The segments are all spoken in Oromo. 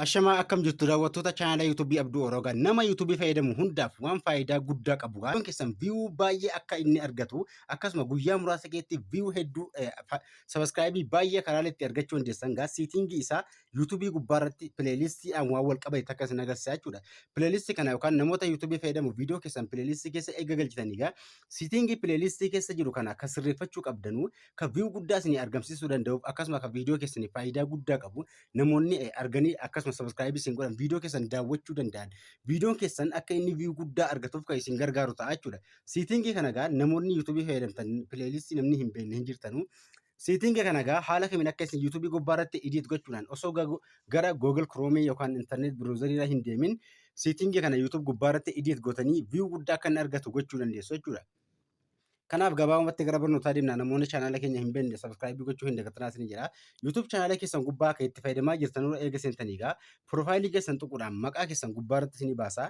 Ashamaa akkam jirtu daawwattoota chaanala YouTube Abduu Oroogaa nama YouTube fayyadamu hundaaf waan faayidaa guddaa qabu waan keessan viyuu baay'ee akka inni argatu akkasuma guyyaa muraasa keessatti viyuu hedduu sabaskiraayibii baay'ee karaa itti argachuu dandeessan gaa siitingii isaa YouTube gubbaarratti pileelistii aan waan wal qabate takka isin agarsiisa jechuudha. Pileelistii kana yookaan namoota YouTube fayyadamu viidiyoo keessan pileelistii keessa eega galchitanii gaa siitingii pileelistii keessa jiru kana akka sirreeffachuu qabdanuu kan viyuu guddaa isin argamsiisuu danda'uuf akkasuma kan viidiyoo keessaniif faayidaa guddaa qabu namoonni eh, arganii akkasuma subscribe isin godhan viidiyoo keessan daawwachuu danda'an viidiyoon keessan akka inni view guddaa argatuuf kan isin gargaaru ta'a jechuudha. Siitingii kana egaa namoonni yuutuubii fayyadamtan pileelistii namni hin beekne hin jirtanu. Siitingii kana egaa haala kamiin akka isin yuutuubii gubbaa irratti idiit gochuudhaan osoo gago- gara Google Chrome yookaan internet browser irra hin deemin siitingii kana yuutuub gubbaa irratti idiit gootanii view guddaa akka inni argatu gochuu dandeessu jechuudha. Kanaaf gabaabumatti gara barnootaa deemna namoonni chaanaala keenya hin beekne sabiskiraayibii gochuu hin dagatinaa isin jedha. YouTube chaanaala keessan gubbaa akka itti fayyadamaa jirtan irra eega seentanii egaa piroofaayilii keessan tuquudhaan maqaa keessan gubbaa irratti isin baasa.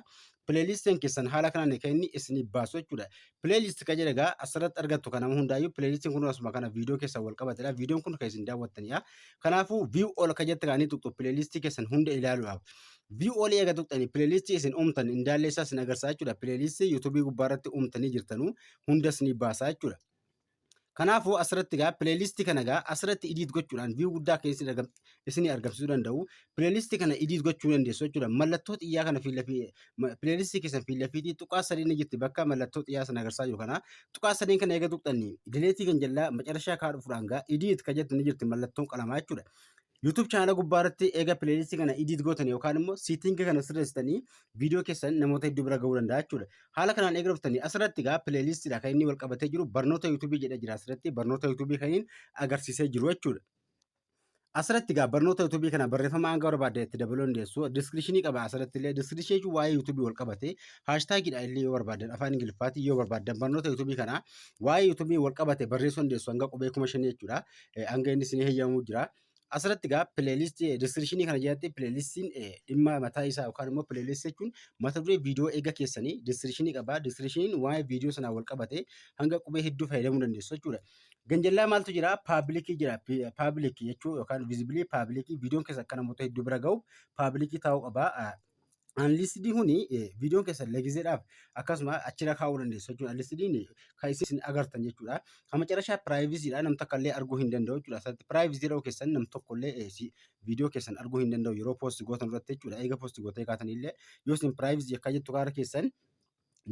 Pileeliistiin keessan haala kanaan kan inni isin baasu jechuudha. Pileeliist kan jedhe egaa asirratti argattu kan nama hundaayyuu pileeliistiin kun asuma kana viidiyoo keessan wal qabatedha. Viidiyoon kun kan isin daawwattanidha. Kanaafuu view all kan jette kaanii tuqxu pileeliistii keessan hunda ilaaluudhaaf. View olii eega tuqxanii pileelistii isin uumtan indaallee isaa isin agarsaa jechuudha. Pileelistii yuutuubii gubbaa irratti uumtanii jirtanuu hundas ni baasaa jechuudha. Kanaafuu asirratti egaa pileelistii kana egaa asirratti idiit gochuudhaan view guddaa akka isin argam- isinii argamsiisuu danda'u. Pileelistii kana idiit gochuu ni dandeessu jechuudha. Mallattoo xiyyaa kana fiila fi ma- pileelistii keessan fiila fiitii tuqaa sadii ni jirti bakka mallattoo xiyyaa sana agarsaa jiru kana. Tuqaa sadeen kana eega tuqxanii dileetii kan jallaa macarashaa kaa dhufuudhaan egaa idiit kan jettu ni jirti mallattoon qalamaa jechuudha. YouTube chaanala gubbaa irratti eega playlist kana edit gootan yookaan immoo setting kana sirreessitanii viidiyoo keessan namoota hedduu bira ga'uu danda'a jechuudha. Haala kanaan eega dhuftanii asirratti egaa playlist dha kan inni wal qabatee jiru barnoota YouTube jedhee jira asirratti barnoota YouTube kan inni agarsiisee jiru jechuudha. Asirratti egaa barnoota YouTube kana barreeffama hanga barbaadde itti dabaluu dandeessu. Description qaba asirratti illee description jechuun waa'ee YouTube wal qabate hashtag dha illee yoo barbaaddan afaan Ingiliffaatiin yoo barbaaddan barnoota YouTube kana waa'ee YouTube wal qabate barreessuu dandeessu hanga qubee kuma shanii jechuudha. hanga inni isin heyyamuu jira. Asirratti egaa pileelistii diskiripshinii kana jalatti pileelistiin dhimma mataa isaa yookaan immoo pileelistii jechuun mata duree viidiyoo eega keessanii diskiripshinii qabaa. Diskiripshiniin waa'ee viidiyoo sanaa wal qabate hanga qubee hedduu fayyadamuu dandeessu jechuudha. Ganjallaa maaltu jira? Paabilikii jira. Paabilikii jechuu yookaan viizibilii paabilikii viidiyoon keessa akka namoota hedduu bira gahu paabilikii ta'uu qaba. Anliistidii kuni viidiyoon keessan legizeedhaaf akkasuma achirra kaa'uu dandeessu jechuudha. Anliistidiin kan isin agartan jechuudha. Kan macarashaa piraayiviziidha nam takka illee arguu hin danda'u jechuudha. Asirratti piraayivizii jedhuu keessan nam tokko illee viidiyoo keessan arguu hin danda'u yeroo poosti gootan irratti jechuudha. Eega poosti gootee kaatan illee yoo isin piraayivizii akka jettu kaara keessan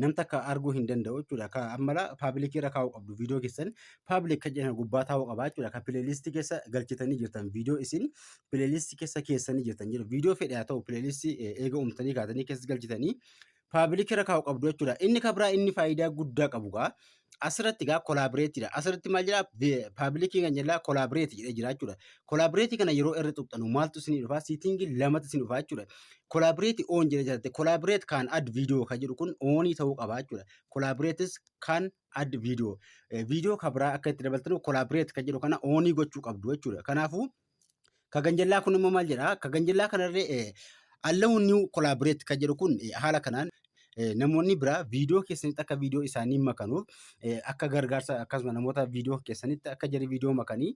nam takka arguu hin danda'u jechuudha. Ka ammala paabilikii irra kaa'uu qabdu viidiyoo keessan paabilik kan jedhan gubbaa taa'uu qaba jechuudha. Ka pileelistii keessa galchitanii jirtan viidiyoo isin pileelistii keessa keessanii jirtan jedhu viidiyoo fedhe haa ta'u pileelistii eega uumtanii kaatanii keessa galchitanii paabilikii irra kaa'uu qabdu jechuudha. Inni ka biraa inni faayidaa guddaa qabu gaa Asirratti egaa collaborate dha. Asirratti maal jedha? Vi- Public kan jedhaa collaborate jedhee jira jechuudha. Collaborate kana yeroo irra tuqxanu maaltu isinii dhufa? Setting lamatu isin dhufa jechuudha. Collaborate on jedhee jira. Collaborate kan add video kan jedhu kun onii ta'uu qaba jechuudha. Collaborates kan add video. Eh, Video kan biraa akka itti dabaltanu collaborate kan jedhu kana onii gochuu qabdu jechuudha. Kanaafuu Ka ganjallaa kun immoo maal jedha? Ka ganjallaa kanarree eh, allow new collaborate kan jedhu kun eh, haala kanaan eh, namoonni biraa viidiyoo keessanitti akka viidiyoo isaanii makanuuf eh, akka gargaarsa akkasuma namoota viidiyoo keessanitti akka jarri viidiyoo makanii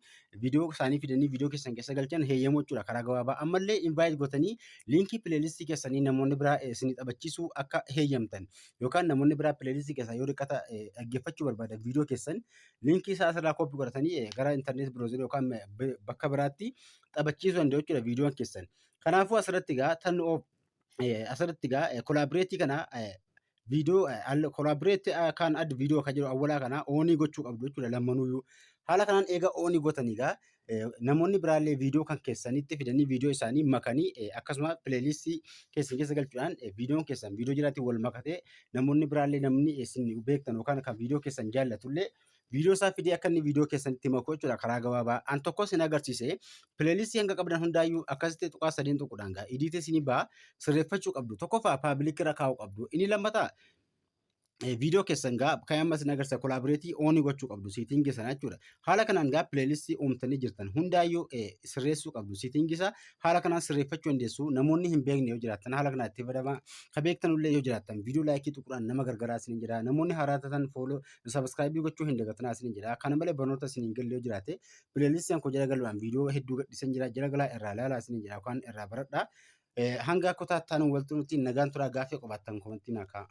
viidiyoo isaanii fidanii viidiyoo keessan keessa galchan heeyyamuu jechuudha karaa gabaabaa ammallee invaayiit gootanii liinkii pileelistii keessanii namoonni biraa eh, isinii taphachiisuu akka heeyyamtan yookaan namoonni biraa pileelistii keessaa yoo riqqata eh, dhaggeeffachuu barbaadan viidiyoo keessan liinkii isaa asirraa koppii godhatanii eh, gara intarneet biroozerii yookaan eh, b- bakka biraatti taphachiisuu danda'u jechuudha viidiyoon keessan. Kanaafuu asirratti egaa tan of eh, asirratti egaa eh, kolaabireetii kana eh, viidiyoo eh, al- kolaabireetii eh, kan adda viidiyoo kan jedhu awwalaa kana oonii gochuu qabdu jechuudha lammanuuyyuu. Haala kanaan eega oonii gootanii egaa namoonni biraallee viidiyoo kan keessanitti fidanii viidiyoo isaanii makanii akkasuma pileeliistii keessan keessa galchuudhaan viidiyoon keessan viidiyoo jiraatti wal makatee namoonni biraallee namni isin beektan yookaan kan viidiyoo keessan jaallatullee viidiyoo isaa fidee akka inni viidiyoo keessanitti makuu jechuudha karaa gabaabaa. An tokko isin agarsiise pileeliistii hanga qabdan hundaayyuu akkasitti tuqaa sadeen tuquudhaan gaa idiitee isinii ba'a sirreeffachuu qabdu tokkoffaa paabilikii irra kaa'uu qabdu inni lammataa viidiyoo keessan gaa kan amma isin agarsiisa kolaabireetii oonii gochuu qabdu siitingii sana jechuudha. Haala kanaan gaa pileelistii uumtanii jirtan hundaayyuu sirreessuu qabdu siitingii isaa haala kanaan sirreeffachuu dandeessu namoonni hin beekne yoo jiraatan haala kanaan itti fayyadamaa ka beektan illee yoo jiraatan viidiyoo laayikii tuquudhaan nama gargaaraa isin jedha namoonni haaraa taatan fooloo sabiskiraayibii gochuu hin dagatinaa isin jedha kana malee barnoota isin hin galle yoo jiraate pileelistiin koo jala galuudhaan viidiyoo hedduu gadhiisan jira jala galaa irraa ilaalaa isin jedha yookaan irraa baradhaa hanga kutaa itti aanu waltu nuti nagaan turaa gaaffii qabaattan komantii naa kaa'aa.